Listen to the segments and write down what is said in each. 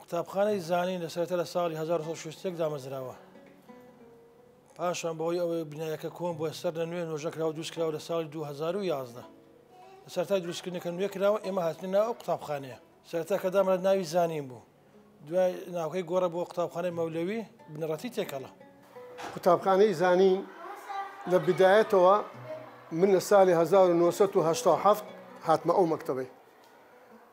قوتابخانەی زانین لە سەرەتا لە ساڵی هەزار و نۆ سەد و شەست و یەک دامەزراوە. پاشان بەهۆی ئەوەی بینایەکە کۆن بووە سەر لە نوێ نۆژە کراوە دروست کراوە لە ساڵی دوو هەزار و یازدە. لە سەرەتای دروستکردنەکە نوێ کراوە ئێمە هاتنە ناو ئەو قوتابخانەیە. سەرەتا کە دامرا ناوی زانین بوو. دوای ناوکەی گۆڕا بۆ قوتابخانەی مەولەوی، بنەڕەتی تێکەڵە. قوتابخانەی زانین لە بدایەتەوە من لە ساڵی هەزار و نۆ سەد و هەشتا و حەفت هاتمە ئەو مەکتەبەی.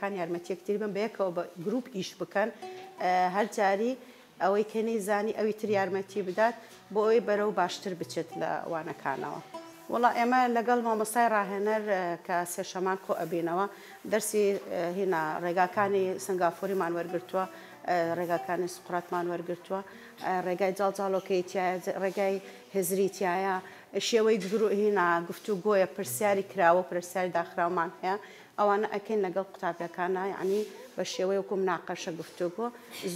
کان یارمەتی یەکتری بن بەیەکەوە بە گروپ ئیش بکەن هەر جاری ئەوەی کە نەیزانی ئەوی تر یارمەتی بدات بۆ ئەوەی بەرەو باشتر بچێت لە وانەکانەوە وەڵا ئێمە لەگەڵ مامۆستای ڕاهێنەر کە سێشەمان کۆ ئەبینەوە دەرسی هینا ڕێگاکانی سنگافوریمان وەرگرتووە ڕێگاکانی سقراتمان وەرگرتووە ڕێگای جاڵجاڵۆکەی تایە ڕێگای هزری تایە شێوەی گرو هینا گفتوگۆیە پرسیاری کراوە پرسیاری داخراومان هەیە ئەوانە ئەکەین لەگەڵ قوتابیەکانا یەعنی بە شێوەی وەکو مناقەشە گفتوگۆ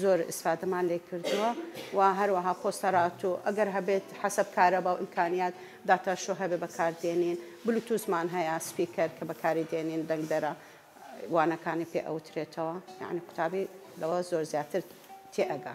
زۆر ئیسفادەمان لێ کردووە و هەروەها پۆستەرات و ئەگەر هەبێت حەسەب کارەبا و ئیمکانیات داتا شۆ هەبێ بەکار دێنین بلوتوزمان هەیە سپیکەر کە بەکاری دێنین دەنگدەرە وانەکانی پێ ئەوترێتەوە یەعنی قوتابی لەوە زۆر زیاتر تێ ئەگا.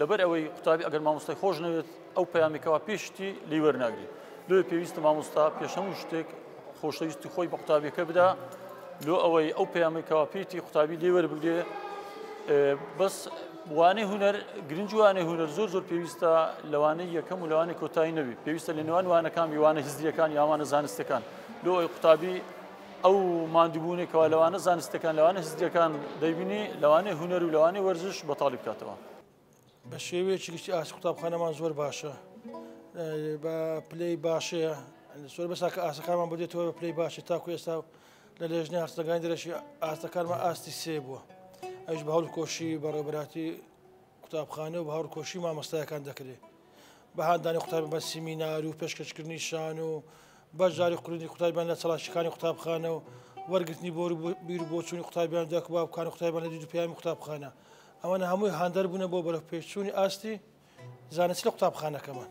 لەبەر ئەوەی قوتابی ئەگەر مامۆستای خۆش نەوێت ئەو پەیامی کەوا پێ شتی لی وەرناگری لۆ پێویستە مامۆستا پێش هەموو شتێک خۆشەویستی خۆی بە قوتابیەکە بدا لۆ ئەوەی ئەو پەیامی کەوا پێیتی قوتابی لێ وەربگرێ بەس وانەی هوەر گرنج وانەی هوەر زۆر زۆر پێویستە لەوانەی یەکەم و لەوانی کۆتایی نەبی پێویستە لە نێوان وانەکان وانە هزریەکان یاوانە زانستەکان لۆ ئەوی قوتابی ئەو ماندووبوونەی کەوا لەوانە زانستەکان، لەوانە هزرییەکان دەیبینی، لەوانەیە هونەر و لەوانەیە وەرزش بەتاڵی بکاتەوە. بە شێوەیەکی گشتی ئاستی قوتابخانەمان زۆر باشە، بە پلەی باشەیە، زۆر بەسە کە ئاستەکانمان بۆ دێتەوە بە پلەی باشە، تاکو ئێستا لە لێژنەی هەڵسەنگاندنی دەرەکی ئاستەکانمان ئاستی سێ بووە، ئەویش بە هەوڵ و کۆششی بەڕێوەبەرایەتی قوتابخانە و هاوڕکۆشی مامۆستایەکان دەکرێت بە هاندانی قوتابی بە سیمینار و پێشکەشکردنی شان و بەشداری قوردی قوتابیان لە چڵاشەکانی قوتابخانە و وەرگرتنی بۆر بیر و بۆچووی قوتابیان دەکبا بکان و قوتابیان لە دیدو پیامی قوتابخانە ئەمەە هەمووی هاندەر بوونە بۆ بەرەپێچووی ئاستی زانست لە قوتابخانەکەمان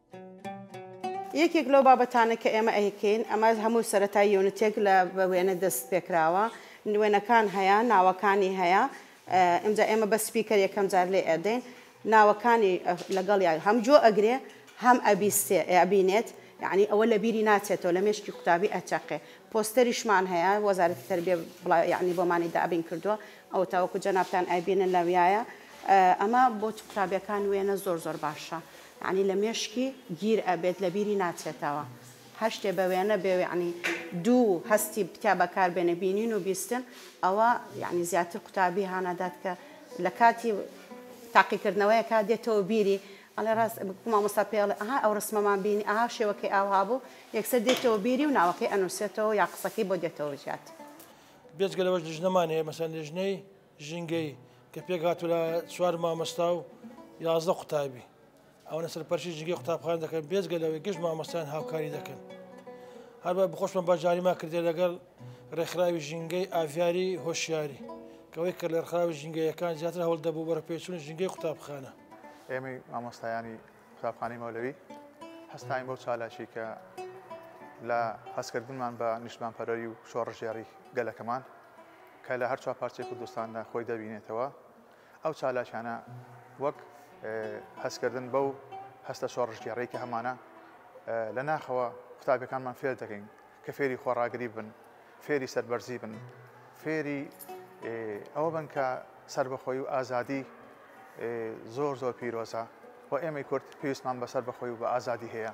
یەکێک لەو بابەتانە کە ئێمە ئەیکەین ئەمە هەموو سەرەتای یۆنتێک لە بە وێنە دەست پێکراوە وێنەکان هەیە ناوەکانی هەیە ئەمجا ئێمە بە سپیکەر یەکەم جار لێ ئەدەین ناوەکانی لەگەڵ یا هەم جۆ ئەگرێ هەم ئەبیستێ ئەبینێت یعنی ئەوە لە بیری ناچێتەوە لە مێشکی قوتابی ئەچەقێ پۆستەریشمان هەیە وەزارەتی تربێ بڵا یعنی بۆمانی دابین کردووە ئەو تاوەکو جەنابان ئەبینن لەویایە ئەمە بۆ قوتابیەکان وێنە زۆر زۆر باشە. یەعنی لە مێشکی گیر ئەبێت لە بیری ناچێتەوە هەر شتێ بە وێنە بێ یەعنی دوو هەستی تیا بەکار بێنێ بینین و بیستن ئەوە یەعنی زیاتر قوتابی هان ئەدات کە لە کاتی تاقیکردنەوەیەکا دێتەوە بیری ئەڵێ ڕاست وەکو مامۆستا پێی ئەڵێ ئەها ئەو ڕسمەمان بینی ئەها شێوەکەی ئاوها بوو یەکسەر دێتەوە بیری و ناوەکەی ئەنووسێتەوە یا قسەکەی بۆ دێتەوە زیاد. بێجگە لەوەش لیژنەمان هەیە مەسەلەن لیژنەی ژینگەیی کە پێکهاتوو لە چوار مامۆستا و یازدە قوتابی ئەوەنە سەرپەرشی ژینگەی قوتابخان دەکەن بێزگە لەوەی گشت مامۆستایان هاوکاری دەکەن هەروە بخۆشمە بەجاریما کردێ لەگەڵ ڕێکخراوی ژینگەی ئاڤیاری هۆشیاری کەەوەی کە لەرخراوی ژینگەیەکان زیاتر هەوڵ دەبوو بەرەپێچون ژینگەی قوتابخانە ئێمەی مامۆستایانی قوتابخانەی مەولەوی هەستاین بەو چالاکی کە لە هەستکردنمان بە نیشتمانپەرەری و شۆڕژێڕی گەلەکەمان کە لە هەرچوار پارچەی کوردستاندا خۆی دەبینێتەوە ئەو چالاکیانە وەک هەستکردن بەو هەستە شۆڕژگێڕی کە هەمانە لە ناخەوە قوتابەکانمان فێر دەکەین کە فێری خۆڕاگری بن فێری سەربەرزی بن فێری ئەوە بن کە سربەخۆی و ئازادی زۆر زۆر پیرۆزە و ئێمەی کورد پێویستمان بەسەر بەخۆی و بە ئازادی هەیە.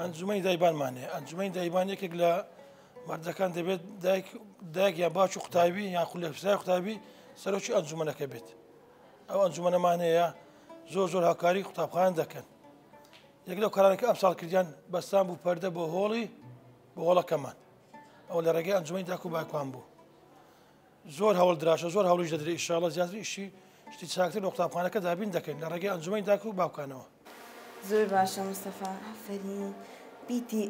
ئەنجومەنی دایبان مانێ ئەنجومەنی دایبان یەکێک لە مردەکان دەبێت دایک دایک یا باش و قوتابی یان خولە پسای قوتابی سەرۆکی ئەنجومەنەکە بێت ئەو ئەنجومەنەمانەیە زۆر زۆر هاکاری قوتابخان دەکەن یەک لەو کارانەکە ئەم ساڵ کردیان بەستان بوو پەردە بۆ هۆڵی بۆ هۆڵەکەمان ئەو لە ڕێگەی ئەنجومی داکو باکوان بوو زۆر هەوڵ دراشە زۆر هەوڵیش دەدرێت ئیشاڵە زیاتر ئیشی شتی چاکتر لە قوتابخانەکە دابین دەکەین لە ڕێگەی ئەنجومی داک و باوکانەوە زۆر باشە مستەفا ئەفەرین بیتی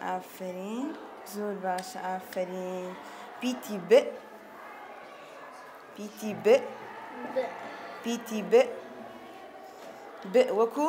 ئافرین زۆر باشە ئافرین پیتی ب پیتی ب پیتی ب ب وەکو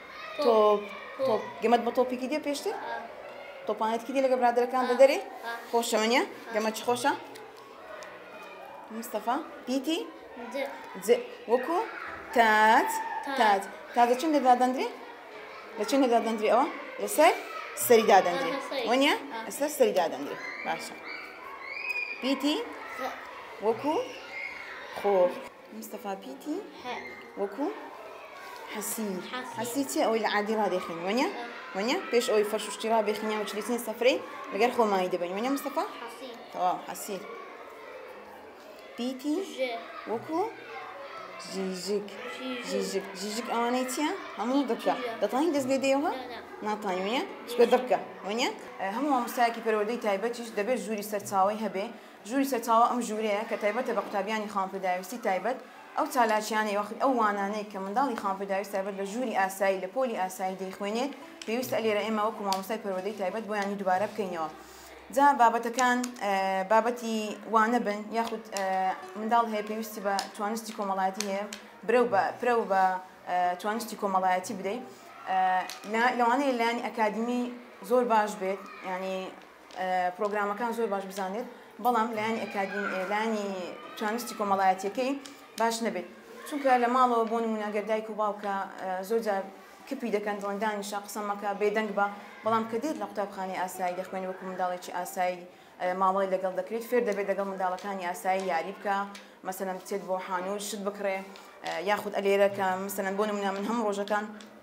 تۆپ تۆپ گەمەت بە تۆپێکی دێ پێشتر تۆپانێتکی دێ لەگە برادەکان بە دەرێ خۆشەوەنیە گەمە چ خۆشە مستەفا پیتی وەکو تات تات تازە چند لە دادەندرێ لە چند لە دادەندرێ ئەوە لەسەر سەری دادەندرێ وەنیە ئەسەر سەری دادەندرێ باشە پیتی وەکو خۆ مستەفا پیتی وەکو حەسیر حەسیر چیە ئەوەی لە عادی ڕادێخین وەنیە وەنیە پێش ئەوەی فەرش و شتی ڕابێخینە و چلیتین سەفرەی لەگەر خۆمانی دەبین وەنیە مستەفا تەواو حەسیر پیتی وەکو ژیژک ژیژک ژیژک ئەوانەی چیە هەموو دڕکە دەتوانین دەست لێ دێەوە ناتوانین وەنیە چکە دڕکە وەنیە هەموو مامۆستایەکی پەروەردەی تایبەتیش دەبێت ژووری سەرچاوی هەبێ ژووری سەرچاوە ئەم ژوورەیە کە تایبەتە بە قوتابیانی خاوەن پێداویستی تایبەت، ئەو چالاکییانەی وەخت ئەو وانانەی کە منداڵی خاوەن پێداویست تایبەت بە ژووری ئاسایی لە پۆلی ئاسایی دەیخوێنێت پێویستە لێرە ئێمە وەکو مامۆستای پەروەردەی تایبەت بۆیانی دووبارە بکەینەوە جا بابەتەکان بابەتی وانە بن یاخود منداڵ هەیە پێویستی بە توانستی کۆمەڵایەتی هەیە برەو بە پرەو بە توانستی کۆمەڵایەتی بدەیت لەوانەیە لایانی ئەکادمی زۆر باش بێت ینی پرۆگرامەکان زۆر باش بزانێت بەڵام لایانی ئەکادمی لایانی چانستی کۆمەڵایەتیەکەی باش نەبێت چونکە لە ماڵەوە بۆ نمونەگەر دایک و باوکە زۆر جار کپی دەکەن دڵندانی شە قسەمەکە بێدەنگ بە بەڵام کە دێت لە قوتابخانی ئاسایی دەخوێنی وەکو منداڵێکی ئاسایی مامەڵی لەگەڵ دەکرێت فێر دەبێت لەگەڵ منداڵەکانی ئاسایی یاری بکە مەسەن بچێت بۆ حانوت شت بکڕێ یاخود ئەلێرەکە مەسەن بۆ نمونە من هەم ڕۆژەکان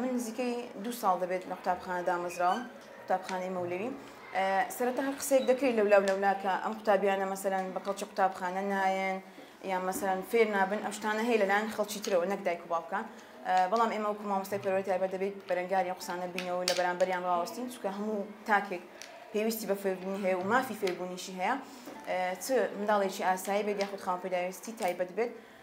من نزیکەی دوو ساڵ دەبێت لە قوتابخانە دامەزراوم قوتابخانەی مەولەوی سەرەتا هەر قسێک دەکرێت لەولا لەولاکە ئەم قوتابیانە مەسەرەن بە کەڵکی قوتابخانە نایەن یان مەسەرەن فێر نابن ئەم شتانە هەیە لەلاەن خەڵکی ترەوە نەک دایک و باوکە بەڵام ئێمە وکو مامۆستای پەروەی تایبەت دەبێت بەرەنگاری قسانە بینەوە لە بەرامبەریان ڕاوەستین چکە هەموو تاکێک پێویستی بە فێربوونی هەیە و مافی فێربوونیشی هەیە چ منداڵێکی ئاسایی بێت یاخود خاوەن پێداویستی تایبەت بێت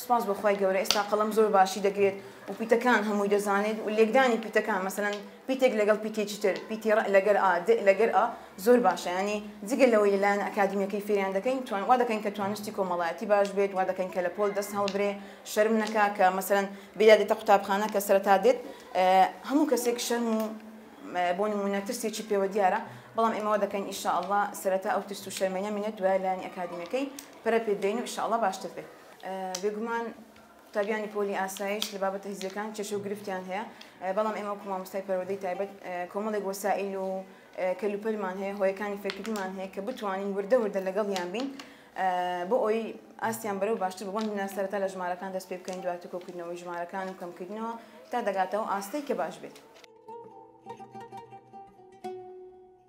سوپاس بۆ خوای گەورە ئێستا قەڵەم زۆر باشی دەگرێت و پیتەکان هەمووی دەزانێت و لێکدانی پیتەکان مەسەلەن پیتێک لەگەڵ پیتێکی تر پیتی ڕئ لەگەر ئا دئ لەگەر ئا زۆر باشە یانی جگە لەوەی لەلایەن ئەکادیمیەکەی فێریان دەکەین توان وا دەکەین کە توانستی کۆمەڵایەتی باش بێت وا دەکەین کە لە پۆل دەست هەڵبرێ شەرم نەکا کە مەسەلەن بێیا دێتە قوتابخانە کە سەرەتا دێت هەموو کەسێک شەرم و بۆ نموونە ترسێکی پێوە دیارە بەڵام ئێمە وا دەکەین ان شاء اللە سەرەتا ئەو ترس و شەرمەی نەمینێت دوای لایەنی ئەکادیمیەکەی پەرە پێ بدەین و ان شاءاللە باشتر بێت بێگومان قوتابیانی پۆلی ئاسایش لە بابەتە هزریەکان کێشە و گرفتیان هەیە بەڵام ئێمە وەکو مامۆستای پەروەدەی تایبەت کۆمەڵێک وەسائل و کەلوپەلمان هەیە هۆیەکانی فێرکردنمان هەیە کە بتوانین وردە وردە لەگەڵیان بین بۆ ئەوی ئاستیان بەرەو باشتر بۆن ناسەرەتا لە ژمارەکان دەست پێ بکەین دواتر کۆکردنەوەی ژمارەکان و کەمکردنەوە تا دەگاتەوە ئاستەی کە باش بێت.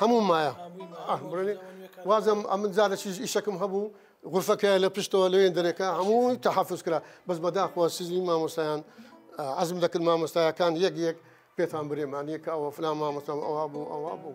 هەموو مایە وازم ئەمن زارە چیش ئیشەکەم هەبوو غرفەکە لە پشتەوە لەوێن دەرەکە هەمووی تەحافز کرا بەس بەداخوە سزی مامۆستایان عزم دەکرد مامۆستایەکان یەک یەک پێتان برێمان یەکە ئەوە فلا مامۆستام ئەوە بوو ئەوە بوو.